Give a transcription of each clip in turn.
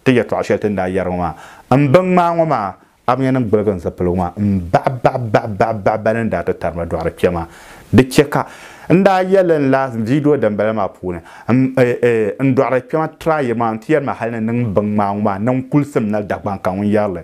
Ti yɛtɔɣ shɛli ti ni daa yɛri ŋɔ maa, M bi ŋmaai ŋɔ maa, Abnɛrnim gbiligi n zipiligu maa m-baɣi baɣi baɣi baɣi baɣi bɛ ni daa ti tarima dɔɣiri kpɛ maa. Di chɛ ka n daa yɛli li n lahi viidiyo dimbala maa puuni, M eeh, n dɔɣiri kpɛma try yi maa, n ti yɛri ma hal ni niŋ m biŋmaai ŋɔ maa niŋ kulisim nali Dagbaŋ ka ŋun yɛri li.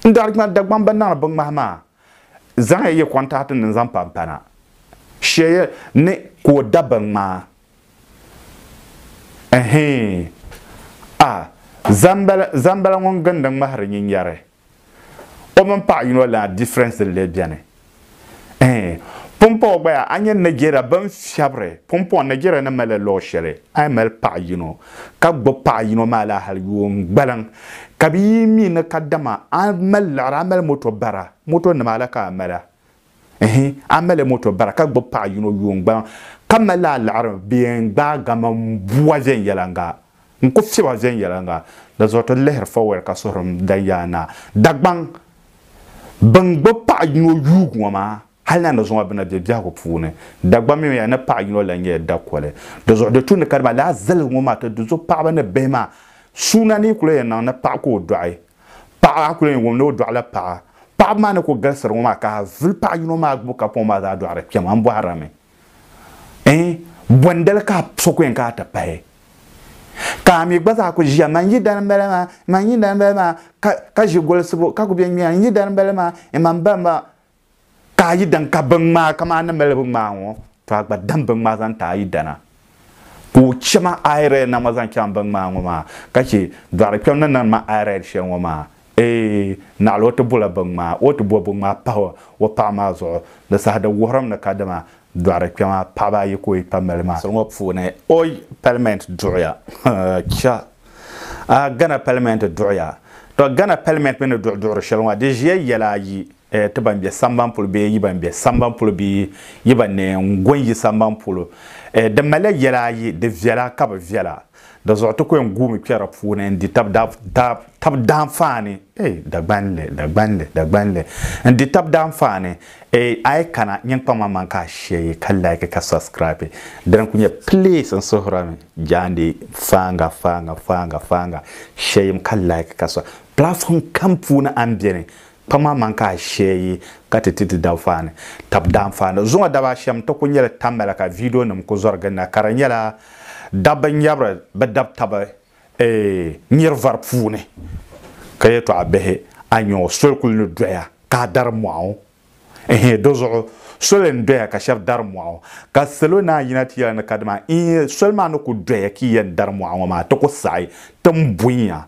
N dɔɣiri kpɛma Dagbaŋ bɛ niŋdi biŋmahi maa, zaŋya yi kɔntaɣitinima zaŋ pa m pana, shɛ ya ni ka o da biŋmaa. Ɛhɛɛn! A! Zambala, Zambala ŋun gindi ŋmahiri nyin yɛri, O mini paɣa yino lana difference n-lee beni? Ɛhɛɛn! Pumpɔŋɔ gba yaa, a nya Nigeria bɛn fiɛbiri, pumpɔŋɔ Nigeria ni malila luɣ shɛli, a yi mali paɣa yino, ka gbib paɣa yino maa laa hal yuun gbaliŋ, ka bɛ yi mi ni kadama a mali liɣiri, a mali moto bara, moto nima la ka a mali a, Ɛhɛn, a mali moto bara ka gbubi paɣa yino yuun gbaliŋ ka mali la aliɣiri bee n-gbaai gaman bua viɛnyɛliŋga. N ku fiɛba viɛnyɛliŋga. Di zuɣu ti lihiri Fowell ka suhuri m danyaa na. Dagbaŋ! Bɛn gbubi paɣa yino yuugi ŋɔ maa, hali na ni zuŋɔ bɛ na be biɛhigu puuni. Dagbaŋ mi ya ni paɣa yino lan nyɛla dakoli. Di zuɣu di tu ni ka dama lala zaligu ŋɔ maa ti di zuɣu paɣaba ni bihi maa suuna ni yi ku lan yɛn niŋ ni paɣa ka o dɔɣi Paɣa a kuli yɛn wum ni o dɔɣila paɣa. Paɣaba maa ni kuli galisiri ŋɔ maa ka a vuli paɣa yino maa gbubi kapuŋ maa zaa dɔɣiri kpɛma m bɔhira mi ɛɛn bɔndali ka so kuli yɛn kana ti pahi ka a mi gba zaa kuli ʒiya man yidana m bala maa man yidana m bala maa ka ʒi golisibu ka kuli bɛ ŋmɛya n yidana m bala maa ɛɛn man ba m ba ka a yi dan ka binŋmaa kaman a ni mali binŋmaa ŋɔ, tɔ a gba dam binŋmaa zaŋ ti a yidana. Ka o chɛ ma ayirɛd na ŋɔ zaŋ chaŋ binŋmaa ŋɔ maa, ka chɛ dɔɣiri kpɛm ni niŋdi ma ayirɛd shɛli ŋɔ maa. Eey! Naɣila o ti bola binŋmaa, o ti bo binŋmaa pah o paɣ maa zuɣu. Di saha di wuhirim ni kadama dɔɣiri kpɛm a paɣiba ayi ka o yi pa mali maa. Soli ŋɔ puuni o yi palimɛnt duɣiya, cha! A Ghana palimɛnt duɣiya. Tɔ Ghana palimɛnt mi ni duɣi duɣiri shɛli ŋɔ, di ʒiya yɛla ayi. eh, ti ban be samban polo bee yi ban be samban polo bee yi ban ni gu n-yi samban polo, eh, di malila yɛla ayi, di viɛla ka bi viɛla. Di zuɣu ti ku yɛn guumi kpɛri di puuni n-di tab daa, daa, tab daanfaani, eh, Dagbanli, Dagbanli, Dagbanli, n-di tab daanfaani, eh, a yi kana nyin kpaŋ ma man ka a shɛyi ka like ka subscribe dini ku nyɛ please n suhira mi jaandi faaŋa, faaŋa, faaŋa, faaŋa, shɛyim ka like ka sub, platform kam puuni a ni beni Kpaŋ maa man ka ashee yi ka ti ti ti daanfaani tab daanfaani zuŋɔ daba ashɛm ti ku nyɛli tamya la ka viidionim ku zɔri gili na ka di nyɛla dabba nyabiri bi dab tabi eeh nyiri vari puuni ka yɛtɔɣa bihi aniɔ soli kuli ni doya ka a dari mɔɣu eeh dizuɣu soli n doya ka shɛb dari mɔɣu ka salo naan yina ti yɛli ni kadama eeh soli maa ni ku doya ka yi yɛn dari mɔɣu ŋɔ maa ti ku saɣi ti m buyiŋa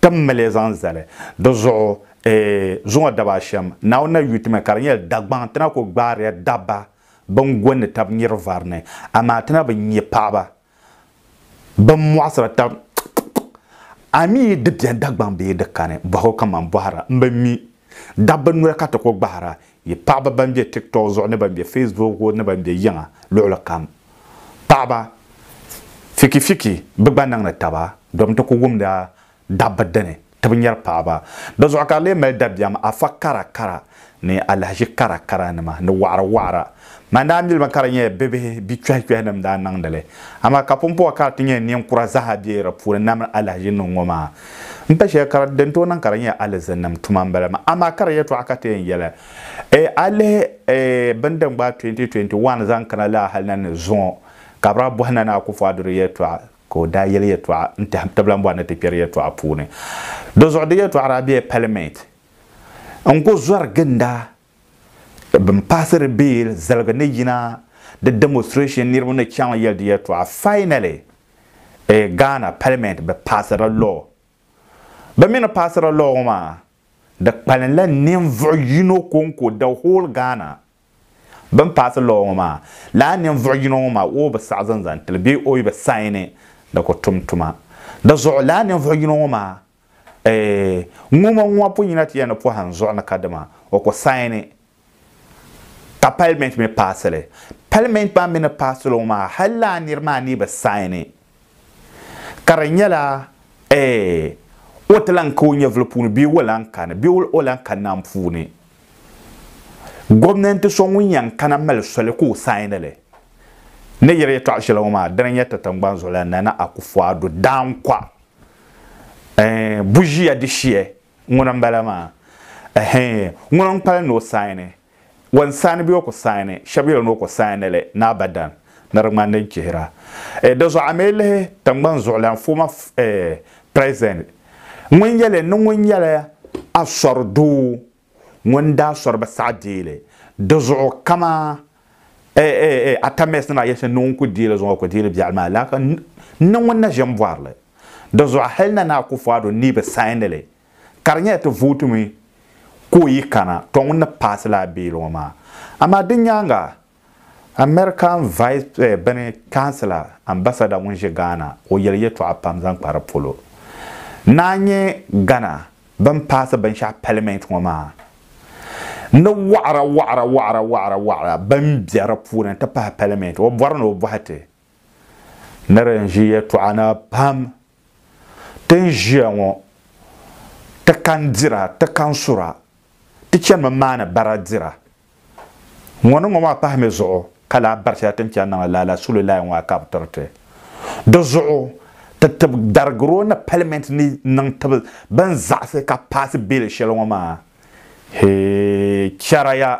ti m mali zaŋ zali dizuɣu Ee, zuŋɔ daba ashɛm, Naawuni na yuui ti mi ka di nyɛla Dagbaŋ ti na ku gbaariya dabba bɛn gɔnni tab niriba vari ni, amaa ti na bi nya paɣiba bɛn mɔɣisiri tab. A mi yi di beni Dagbaŋ bee di kani, bɔhigu kaman bɔhira m-bi mi, dabba noli ka ti ku gbahira yi paɣiba bɛn be TikTok zuɣu ni bɛn be Facebook zuɣu ni bɛn be yiŋa luɣili kam. Paɣiba, fiki fiki bɛ gba niŋdi taba domi ti ku wumdi a dabba dini ti bi nyari paɣaba. Dizuɣu ka di lee mali dabiɛm afa kara kara ni alahiʒi kara kara nima ni waɣira waɣira. Man daa mili ba ka di nyɛla bibihi bi kpɛhi kpɛhi ni m daa niŋdi li. Amaa ka pumpɔŋɔ ka di ti nyɛ ninkura zaaha be di puuni na mini alahiʒi niŋ ŋɔ maa. M pa shɛli ka din tooi niŋ ka di nyɛ alizinnim tuma m-bala maa. Amaa kara yɛtɔɣa ka ti yɛn yɛli. Eeh a lihi eeh bini din gbaai 2021 zaŋ kana laa hali na ni zuŋɔ ka bi daa bɔhi Nana Akufu Addo di yɛtɔɣa Ka o daa yɛli yɛtɔɣa n-tɛhi tibila m-bɔri ni ti kpɛri yɛtɔɣa puuni. Di zuɣu di yɛtɔɣa daa bela Palimɛnti. N ko zɔri ginda bɛn paasiri bill ziligi ni yina di demonstration niriba ni chaŋ yɛli di yɛtɔɣa. Finally, eh, Ghana Palimɛnti bɛ paasirila law. Bɛ mi ni paasiri law ŋɔ maa, di kpalinla ninvuɣ yino kɔŋko the whole Ghana. Bɛn paasi lɔɔ ŋɔ maa, lala ninvuɣ yino ŋɔ maa o bi saɣi zaŋ zaŋ ti li bee o bi saini ni ka o tum tuma. Di zuɣu lala ninvuɣ yino ŋɔ maa eeh ŋumaŋuma pun yina ti ya ni pɔhim zuɣu ni kadama o ku saini ka palimɛnti mi paasi li. Palimɛnti maa mi ni paasi li ŋɔ maa, hal lala nir maa ni bi saini, Ka di nyɛla, Ɛɛh! O ti lan ka o nyɛvili puuni bee o lan kani, bee o lan ka nam puuni. Gomnanti so ŋun yɛn kana mali soli ka o saini li ni yiri yɛtɔɣ shɛli ŋɔ maa, dini n-nyɛ ti tiŋgbani zuɣulan Nana Akufu-Addo Dankwa. Ɛɛh! Buʒiya di shia ŋuni m-bala maa. Ɛhɛɛh! Ŋuni n-kpalim ni o saini? Wan saani bee o ku saani? Shɛb yɛli ni o ku saani li ni abadan, ni di ŋmani din chihira. Eh, di zuɣu a mi lihi tiŋgbani zuɣulan former eh, President ŋun yɛli ni ŋun nyɛla asɔri doo ŋun daa sɔri bi saɣi deeli di zuɣu kama eh, eh, eh, Atamɛs nima yɛli shɛli ni ŋun ku deeli zuŋɔ ku deeli biɛɣu maa laaka n ni ŋun na ʒe m-bɔri li. Di zuɣu hali Nana Akufo-Addo ni bi saani li ka di nyɛla ti vootimi ka o yi kana to ŋun ni paasi lala bill ŋɔ maa. Amaa di nyaaŋa American vice bini councilor, ambassador ŋun ʒe Ghana o yeli yɛltɔɣa pam zaŋ kpa di polo. Naa nyɛ Ghana bini paasi binshɛɣu parliament ŋɔ maa ni waɣira waɣira waɣira waɣira waɣira bini be di puuni nti pahi parliament o bɔri ni o bɔhi ti ni di n ʒi yɛltɔɣa na pam. Ti ni ʒiya ŋɔ, ti kan dira, ti kan sura, ti chanimi maani bara dira. Ŋɔ ni ŋɔ maa pahi mi zuɣu ka lahi bari shɛli ti ni chani niŋdi lala sululaya ŋɔ a ka bi tiri ti. Di zuɣu ti tib darigiro ni palimenti ni niŋ tibi bɛn zaɣisi ka paasi beeli shɛli ŋɔ maa. Hee chɛraya!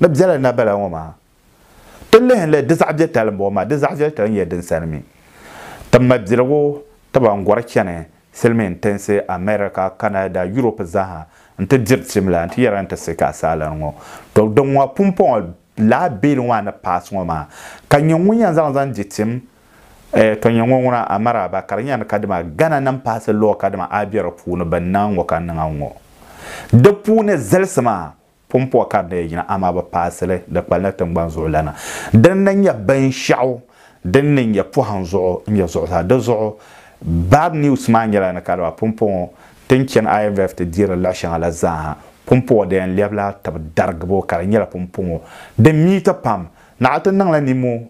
Ni bela na bela ŋɔ maa, ti lihi li di zaɣ viɛlitali m-bɔŋɔ maa, di zaɣ viɛlitali n-nyɛ din sani mi. Ti mabiligu tiba n-gɔri chani silimiin tinsi America, Canada, Europe zaaha n-ti diri tim la n-ti yɛra ni ti sik asaalan ŋɔ. To din ŋɔ pumpɔŋɔ laa beeli ŋɔ a ni pass ŋɔ maa, ka nyɛ ŋun yɛn zaŋ zaŋ di tim, eh to nyɛ ŋɔ ŋuna a maraaba ka di nyɛla ni kadama Ghana nim pass law kadama a be di puuni bɛ ni niŋ a ŋɔ ka n niŋ a ŋɔ. Di puuni zalisi maa Pumpɔɣu ka di daa yina, amaa bɛ paasi li di kpalinli tiŋgbani zuɣulana. Dini na n-nyɛ binshɛɣu din ni nyɛ pɔhim zuɣu n-nyɛ zuɣusaa. Di zuɣu Bad News maa nyɛla ni ka di ba pumpɔɣu ŋɔ ti ni chani IMF ti deeri li luɣ'shɛŋa la zaaha. Pumpɔɣu di yɛn lɛbila tibi darigibo ka di nyɛla pumpɔŋɔ din miiti pam. Naɣa ti niŋla nimohi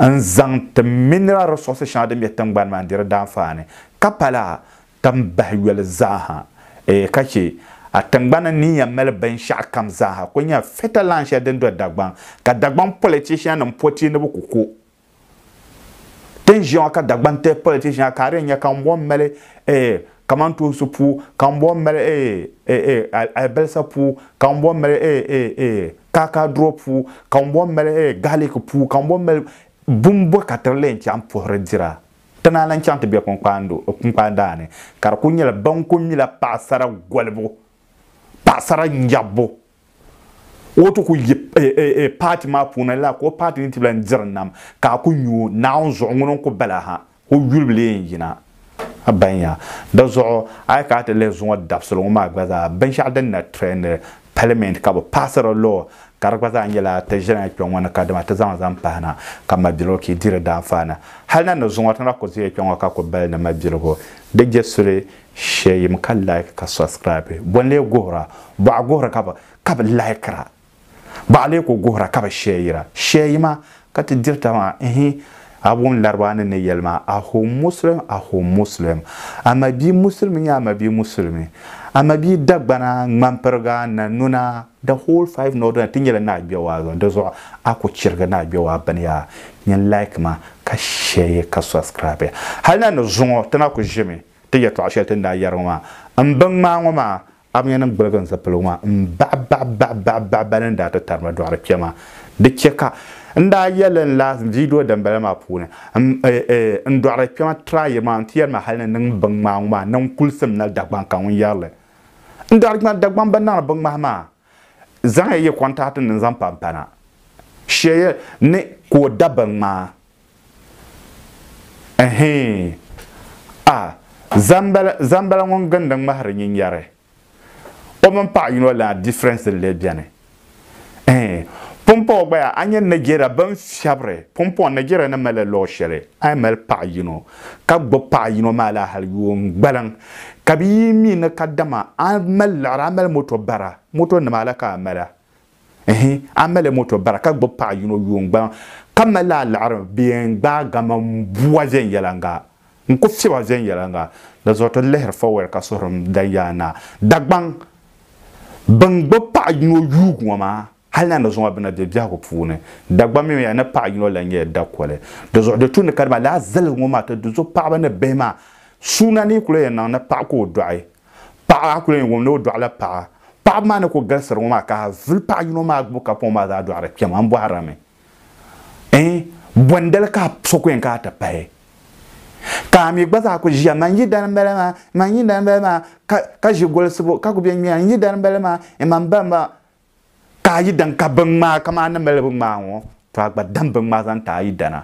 n zaŋ ti mineral resources shɛŋa din be tingbani maa n-diri daanfaani, ka pa lala tam bahi yoli zaaha, eei ka chɛ a tingbani ni yɛn mali binshɛɣukam zaaha kul nya fertile land shɛli din do Dagbaŋ, ka Dagbaŋ politiciannim po ti ni bɛ ku ko. Ti ni ʒiya ŋɔ ka Dagbanti politician ka a di yɛn nya ka ŋun bɔŋ mali eei Kamantoonsi puu ka m bɔn mali ee ee ee alibalisa puu ka m bɔn mali ee ee ee kaakaaduro puu ka m bɔn mali ee gaaliki puu ka m bɔn mali bini bɔ ka tiri leen chaŋ puhiri dira ti naa lan chaŋ ti be kpunkpaan daa ni ka di kuli nyɛla ban kuli mila paɣasara golibu paɣasara nyɛbbu o ti ku yi paati maa puuni la ka o paati ni ti bela n-diri nam ka a ku nyu o, Naawuni zuɣu ŋuni n-ku bala ha? O yuli bi lee n-yina. A baŋ ya? Di zuɣu a yi kana ti lihi zuŋɔ dabisili ŋɔ maa gba zaa, binshɛɣu din na trɛndi Palimɛnti ka bɛ paasiri lɔɔ ka di gba zaa nyɛla ti ʒiɛlana kpe ŋɔ ni kadama ti zaŋ zaŋ pahi na ka mabiligu ki di di daanfaani. Hali na ni zuŋɔ ti na ku zeya kpe ŋɔ ka ku bali ni mabiligu di je suli Sheyim ka like ka subscribe. Bɔ n-lee guhira? Bɔɣa guhiri ka bi ka bi likira. Bɔɣa lee ku guhira ka bi sheyira. Sheyima ka ti diri taba maa ihi a wum laribaa ni ni yeli maa a home Muslim a home Muslim. A ma bia musulimi nyɛ a ma bia musulimi. A ma bia Dagbana, Ŋmanpiriga, Nanuna, the whole five northern ti nyela ni a gbɛ waa zuɣu di zuɣu a ku chirigi ni a gbɛ waa bini yaa nyin like ma ka sheye ka subscribe. Hali na ni zuŋɔ ti na ku ʒimi. Ti yɛtɔɣ shɛli ti ni daa yɛri ŋɔ maa, M bi ŋmaai ŋɔ maa, Abnɛrnim gbiligi n zipiligu maa m-baɣi baɣi baɣi baɣi baɣi ba ni ni daa ti tari ma dɔɣiri kpe maa. Di chɛ ka n daa yɛli li n lahi viidiyo dimbala maa puuni, M eeh, n dɔɣiri kpe ma tira ayi maa, n ti yɛri ma hal ni niŋ m biŋŋmaai ŋɔ maa, niŋ kulisim nali Dagbaŋ ka ŋun yɛri li. N dɔɣiri kpe ma Dagbaŋ ba niŋri biŋŋmahi maa. Zaŋya yi kɔntaɣiti nim zaŋ pa m-pana shɛya ni ka o da binŋmaa. Ɛhɛɛn! A, Zambala, Zambala ŋun gindi ŋmahiri nyinyari, o mini paɣ yino lana difference n-lee beni? Ɛhɛɛn! Pumpɔŋɔ gba yaa a nya Nigeria bɛ ni fiɛbiri pumpɔŋɔ Nigeria ni mali law shɛli a yi mali paɣ yino ka gbubi paɣa yino maa la hali yuun gbaliŋ, ka bɛ yi mi ni kadama a mali liɣiri, a mali moto bara, moto nima la ka a mali a? Ɛhi, a mali moto bara ka gbubi paɣa yino yuun gbaliŋ, ka mali a liɣiri bɛ yɛn gbaai gama m-bua viɛnyɛliŋga, n-ku fiɛba viɛnyɛliŋga. Di zuɣu ti lihiri Fowell ka suhuri m danyaa naa, Dagbaŋ, bɛn gbubi paɣa yino yuugi ŋɔ maa Hal ni a ni zaŋ a bina be biɛhigu puuni, Dagbam mini a ni paɣ yino lan nyɛla dakoli. Dinzuɣu di tu ni ka dama lala ziligi ŋɔ maa ti du zo paɣiba ni bihi maa, suuna ni yi ku lan yɛn niŋ ni paɣ ka o dɔɣi paɣ a ku lan yɛn wum ni o dɔɣila paɣ a. Paɣiba maa ni ku galisiri ŋɔ maa, ka a vuli paɣ yino maa gbubi kapɔŋ maa zaa dɔɣiri kpɛma, n bɔhirimi ɛɛn bɔndali ka so ku yɛn kana ti pahi? Ka a mi gba zaa ku ʒiya, Man yi dani m-bala maa, man yi dani m-bala maa, ka ka ʒi golisibu ka ku be ŋmɛya, N yi dani m-bala maa, Iman ba m-ba, ka a yi dan ka binŋmaa kaman a ni mali binŋmaa ŋɔ, tɔ a gba dam binŋmaa zaŋ ti a yidana.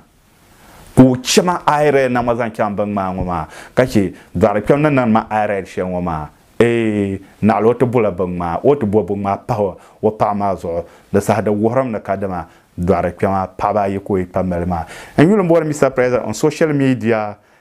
Ka o chɛ ma ayirɛli na ŋɔ zaŋ chaŋ binŋmaa ŋɔ maa, ka chɛ dɔɣiri kpɛm ni niŋdi ma ayirɛli shɛli ŋɔ maa. Ee, naɣila o ti bola binŋmaa, o ti bo binŋmaa pahi o paɣa maa zuɣu. Di saha di wuhirim ni kadama dɔɣiri kpɛma paɣiba ayi ka o yi kpabi mali maa. N yuli bɔri Mister President on social media